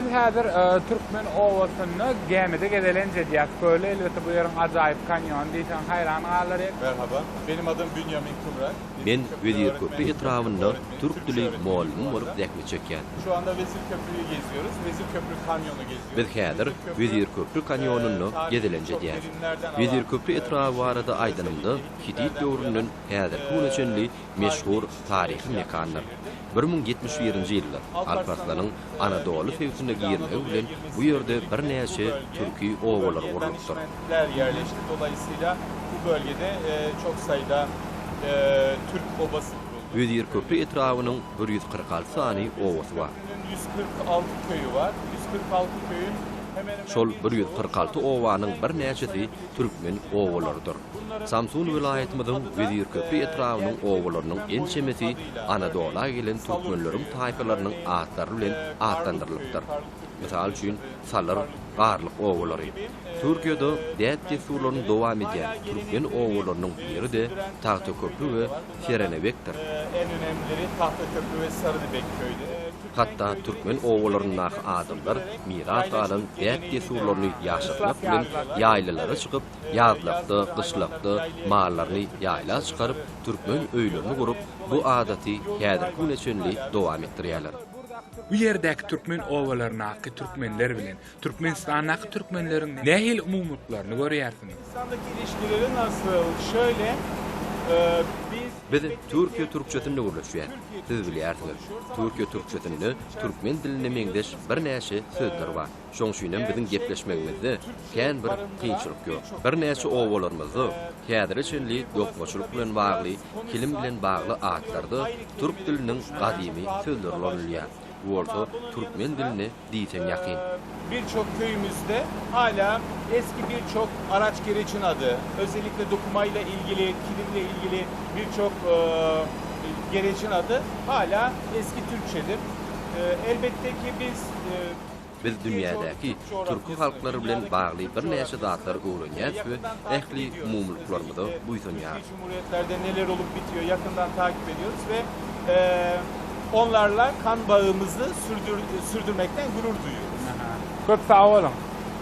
Biz häzir Türkmen obasynda gämide gezelenç edýäs. Köli elbetde bu ýeriň ajaýyp kanýony diýseň haýran galarys. Merhaba. Benim adım Bünyamin Kümran. Men Wezirköprü etrabynda türk dili mugallym bolup zähmet çekýän. Şu anda Wezirköprüyi geziyoruz. Wezirköprü kanyonu geziyoruz. Biz häzir Wezirköprü kanýonynda gezelenç edýäs. Wezirköprü etraby barada aýdanymda Hitit döwründen häzirki güne çenli Meşhur taryhy mekandyr. Bir müň ýetmiş birinji ýylda Alparslanyň Anadoly söýgüsine girmegi bilen bu ýerde birnäçe türki obalary gurlupdyr. Wezirköprü etrabynyň bir ýüz kyrk alty sany obasy bar. Şol bir ýüz kyrk alty obanyň birnäçesi türkmen obalarydyr. Samsun welaýatymyzyň Wezirköprü etrabynyň obalarynyň ençemesi Anadola gelen türkmenleriň taýpalarynyň atlary bilen atlandyrylypdyr. Mysal üçin, Salyr, Garlyk obalary. Türkiýede däp-dessurlaryny dowam edýän türkmen obalarynyň biri-de Tagtaköprü we Serenebekdir. Hatda türkmen obalaryndaky adamlar miras galan däp-dessurlaryny ýaşatmak bilen ýaýlalara çykyp, Ýazlykda, gyşlykda mallaryny ýaýla çykaryp, türkmen öýlerini gurup, bu adaty häzirki güne çenli dowam etdirýärler. Bu ýerdäki türkmen obalaryndaky türkmenler bilen Türkmenistandaky türkmenleriň nähili umumylyklaryny görýärsiňiz? Biz türkiýe türkçesinde gürleşýäs. Siz bilýärsiňiz, türkiýe türkçesinde türkmen diline meňzeş birnäçe sözler bar. Şoň üçinem biziň gepleşmegimizde kän bir kynçylyk ýok. Birnäçe obalarymyzda häzire çenli dokmaçylyk bilen bagly, kilim bilen bagly atlarda türk diliniň gadymy sözleri ulanylýar. Bu bolsa türkmen diline diýseň ýakyn. Bir çok köyümüzde hala eski bir çok araç gereçin adı, özellikle dokumayla ilgili, kilimle ilgili bir çok gereçin adı hala eski Türkçedir. Elbette ki biz. Biz dünýädäki türki halklary bilen bagly birnäçe zatlary öwrenýäris we ähli umumylyklarymyza buýsanýarys.